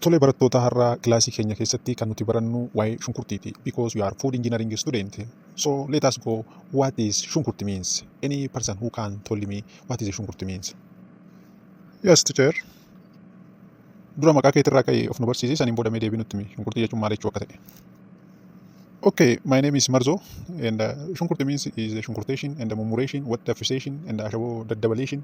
Tole barattoota har'a kilaasii keenya keessatti kan nuti barannu waa'ee shunkurtiiti because we are food engineering student. So let us go what is shunkurti means? Any person who can tell me what is shunkurti means? Yes teacher. Dura maqaa keetirraa ka'e of nu barsiisi saniin booda mee deebii nutti himi shunkurtii jechuun maal jechuu akka ta'e. Okay, my name is Marzo and uh, shunkurti means is shunkurtation and mummuration, what daffisation and ashaboo daddabalation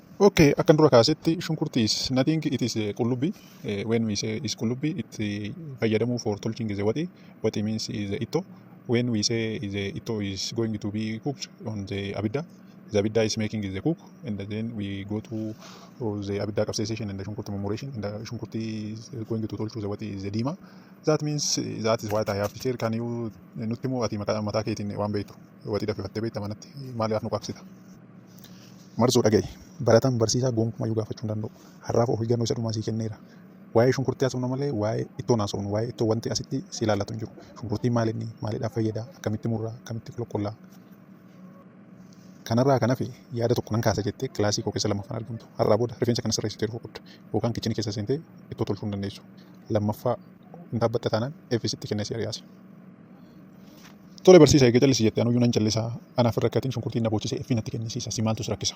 Okay, akkan dura kaasetti shunkurtii is nothing it is eh, qullubbii eh, when we say is qullubbii it eh, fayyadamuu for tolching is a waxii waxii means is a itto when we say is a itto is going to be cooked on the abidda the abidda is making is a cook and then we go to oh, the abidda capsaicin and the shunkurtii murmuration and the shunkurtii is going to tolchu the waxii is a diima that means eh, that is what I have to share can you nutti moo ati maqaa mataa keetiin waan beektu waxii daffifattee beekta manatti maaliif nu qaabsita Marzoo dhaga'i. Barataan barsiisaa gonkumayyuu gaafachuu hin danda'u. Har'aaf of eeggannoo isa dhumaa sii kenneera. Waa'ee shunkurtii haasofna malee waa'ee ittoon haasofnu. Waa'ee ittoo wanti asitti si ilaallatu hin jiru. Shunkurtiin maal inni? Maalidhaaf fayyada? Akkamitti murra? Akkamitti qulqulla? Kanarraa kan hafe yaada tokko nan kaasa jettee kilaasii koo keessa lammaffaan argamtu. Har'aa booda rifeensa kana sirreessitee dhufuu qabda. Yookaan kichinii keessa seentee ittoo tolchuu hin dandeessu. Lammaffaa hin dhaabbatta taanaan F sitti kennee si ari'aasi. Tole barsiisa eega callisi jette anuyyuu nan callisa anaaf hin rakkatin shunkurtiin na boochise fi natti kennisiisa si maaltu si rakkisa.